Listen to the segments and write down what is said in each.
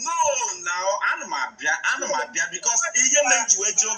no na ana m abịa ana m abịa because ihe mere m ji wee jụọ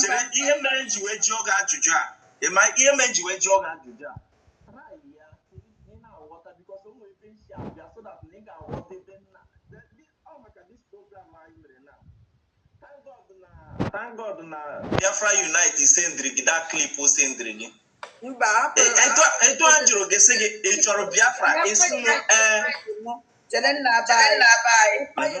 chere ihe mere m ji wee jụọ gị ajụjụ a ị ma ihe mere m ji wee jụọ gị ajụjụ a Thank God na Biafra Unite sendiri gị that clip o sendiri gị. Etu a jụrụ gị sị gị ị chọrọ Biafra ị sị m ee. Chere nna aba anyị.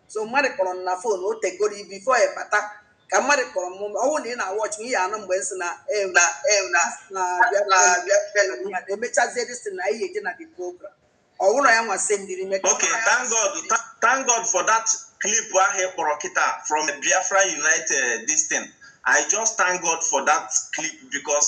so mmadụ kpọrọ m na phone o tegoro before ị bata ka mmadụ kpọrọ m ọ wụrụ na ị na-awatch m ị ya-anụ mgbe m sị na na na na-abịa emechazie this thing na ihe eje na the program ọwụrụ ya nwa sendiri m ya okay thank god Tha- thank god for that clip ahụ ị kpọrọ kịta from biafra united this thing i just thank god for that clip because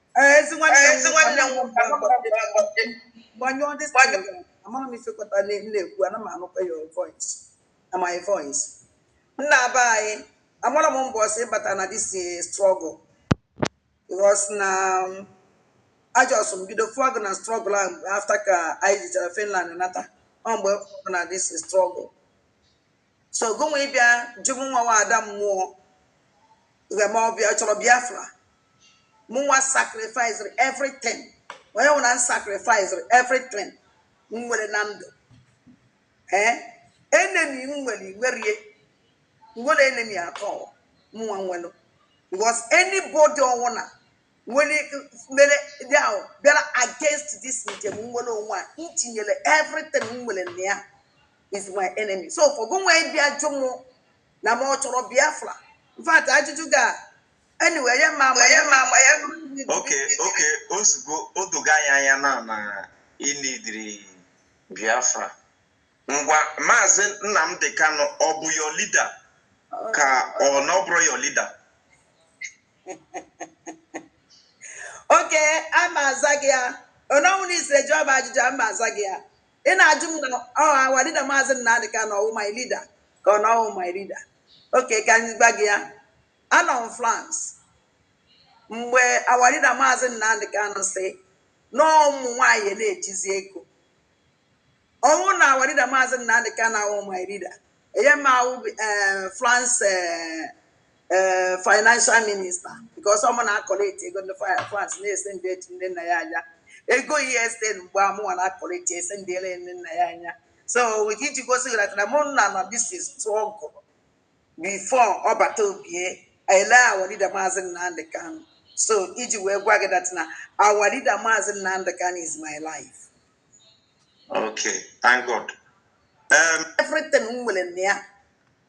ezi nwanne m ezi nwanne m gbanyụọ ndị amara m ifekọta na-ekwu ana m anụkwa your voice na my voice nna aba anyị amara m mbọsị ị bata na this eh, struggle because na um, a just m bido fụọ gị na struggle ahụ after ka anyị jechara Finland nata ọ mgbe na this struggle so gụnwa ịbịa jụ m nwawa ada mmụọ gheme ọbịa ọ chọrọ biafra mụ nwa sacrificere everything onye nwụna m sacrificere everything m nwere na ndụ ee enemy m nwere igwerie nwere enemy atọ mụnwa nwelụ because anybody ọwụna nwere mere ndị ahụ bịara against this njem nwere onwe a m tinyere everything m nwere na ya is my enemy so for gị nwa ịbịa jụ m na m ọ chọrọ biafra in fact ajụjụ gị a anyway ya ma ama ya ma ama ya okay okay ozugbo o doga anyị anya na ị needịrị biafra ngwa maazị Nnamdi Kanu ọ bụ your leader ka ọ na ọ bụrọ your leader okay ama aza gị ya ononwụ na isire jụọ m ajụjụ ama aza gị ya ị na-ajụ m na our leader maazị Nnamdi Kanu ọwụ my leader ka ọ na ọwụ my leader okay ka anyị gwa gị ya anọ m France mgbe our leader maazị Nnamdi Kanu sị na ọ ụmụ nwaanyị na-ejizi ego ọ wụ na our leader maazị Nnamdi Kanu awụ my leader enye m awụ eh, France eh, eh, financial minister because ọ mụ na-acollect ego ndị Fra- France na-esend eji ndị nna ya anya ego ESN mgbe a mụwa na-acollect esend ele ndị nna ya anya so iji gosi gị that na mụ nọ na this struggle before Ọbataobie ele our leader maazị Nnamdi Kanu so iji wee gwa gị that na our leader maazị Nnamdi Kanu is my life Okay, thank God. Um, everything m nwere na ya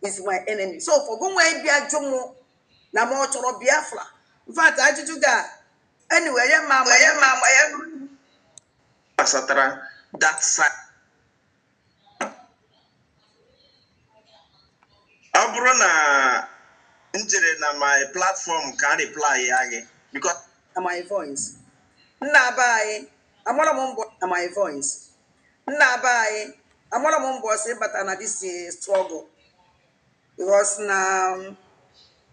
is my enemy. So for gụnwa ịbịa jụ m na m ọ chọrọ Biafra. In fact, ajụjụ gị a anyway, ya ma ma ya ma ma ya gbasatara that side. Ọ bụrụ na m jere na my platform ka m reply ya gị because na my voice. Nna be anyị Amara m mbọ na my voice. Nna be anyị, amara m mbọsị ị bata na this eh, struggle. Because na um,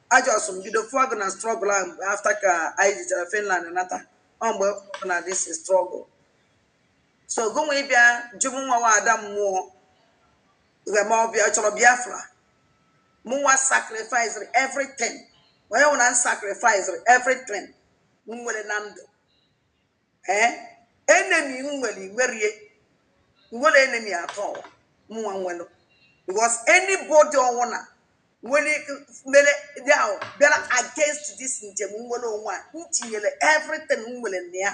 a just m bido fụọ gị na struggle ahụ mgbe after ka anyị jechara Finland nata. Ọ mgbe m fụrụ na this eh, struggle. So gụnwa ịbịa jụ mụnwa nwa ada mmụọ ghe ma ọ bịa chọrọ Biafra. Mụnwa sacrificed everything. Onye nwụrụ na m sacrificed everything m nwere na ndụ. ee enemy m nwere if really nwere enemy at all mụnwa nwere because anybody ọwụna nwere mere dị ahụ bịara against this njem nnwere onwe a m tinyere everything m nwere na ya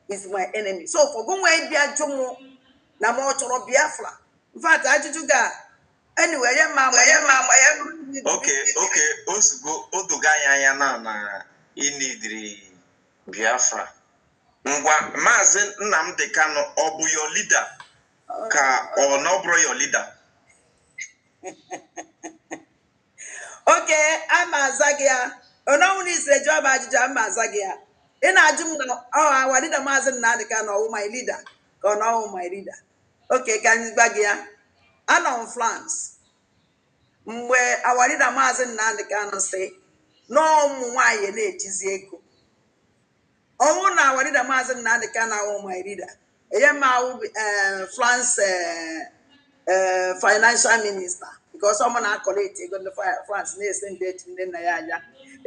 is my enemy so for gụnwa ịbịa jụ mụ na ma ọ chọrọ biafra in fact ajụjụ gị a anyway ya ma ama ya ma ama ya okay okay ozugbo o dogo anyị anya na na i needịrị Biafra. Ngwa Maazị Nnamdi Kanu ọ bụ your leader ka ọ na ọ bụrọ your leader? okay a ma aza gị ya ọ na ọwụ na i siri jụọ m ajụjụ a ma aza gị ya ị na-ajụ m na our leader maazị Nnamdi Kanu ọwụ my leader ka ọ na ọwụ my leader okay ka m gwa gị ya anọ m France mgbe our leader maazị nnamdị kanụ sị na ụmụ nwaanyị na-ejizi ego ọwụ na our leader maazị nnamdị kanụ awụ my leader enye m awụ eh, france eh, eh, financial minister because ọ mụ na-acollect ego ndị Fra- france na-esend eji ndị nna ya anya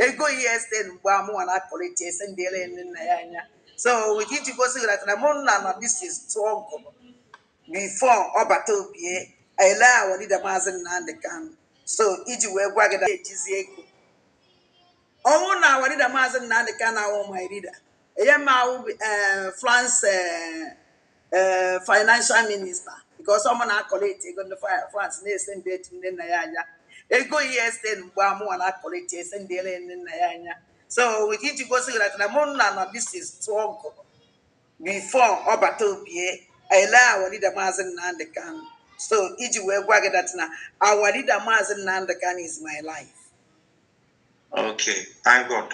ego ESN mgbe a mụwa na-acollect esend ele ndị nna ya anya so iji gosi gị na mụ nọ na this struggle before ọ bata obie ele our leader maazị Nnamdi Kanu so iji wee gwa gị na ejizi ego ọ wụ na our leader maazị Nnamdi Kanu awụ my leader enye m awụ eh, France eh, eh, financial minister because ọ mụ na-akọlekti ego ndị Fra- France na-esendi to Nnennaya Anya ego yes then mgbe a mụwa na-akọlekti esendịrị Nnennaya Anya so iji gosi gị na mụ nọ na this struggle before ọ bata obie ele our leader maazị Nnamdi Kanu so iji wee gwa gị that na our leader maazị Nnamdi Kanu is my life okay thank God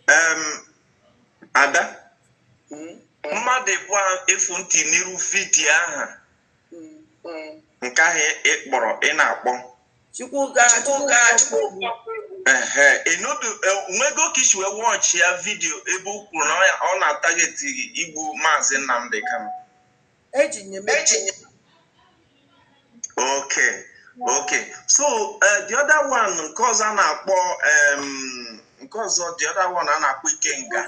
um, ada hmm? mmadụ ịbụ efu ntị n'iru vidiyo aha nke ahụ ị kpọrọ ị na-akpọ Chukwuka Chukwuka Chukwu ehe ịnụdụ nwego ka i si wee wọchị ya vidiyo ebe o kwuru na ọ- ọ na-atageti igbu maazị Nnamdi Kanu eji nye m eji nye okay okay so eh, the other one nke ọzọ a na-akpọ em, nke ọzọ the other one a na-akpọ Ikenga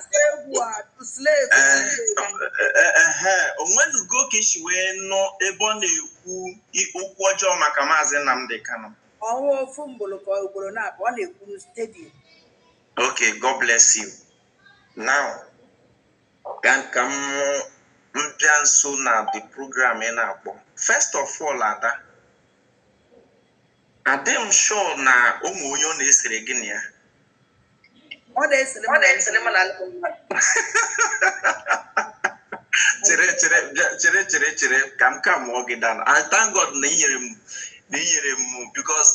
o nwenugo ka i si wee nụ ebe ọ na-ekwu okwu ọjọọ maka maazị Nnamdi Kanu ọnwa ofu mgboro ka ugboro naabọ ọ na-ekwu stadium okay God bless you now ka m bịa nso na the program ị na-akpọ first of all ada adị m sure na o nwe onye ọ na-esere gị na ya ọ na-esere m na ndị mmadụ chere chere bịa- chere chere chere ka m kamụọ gị down I thank God na i nyere m na i nyere m because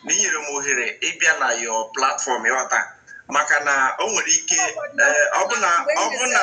na i nyere m ohere ịbịa na your platform ị ghọta maka na o nwere ike eh, ọ bụ na ọ bụ na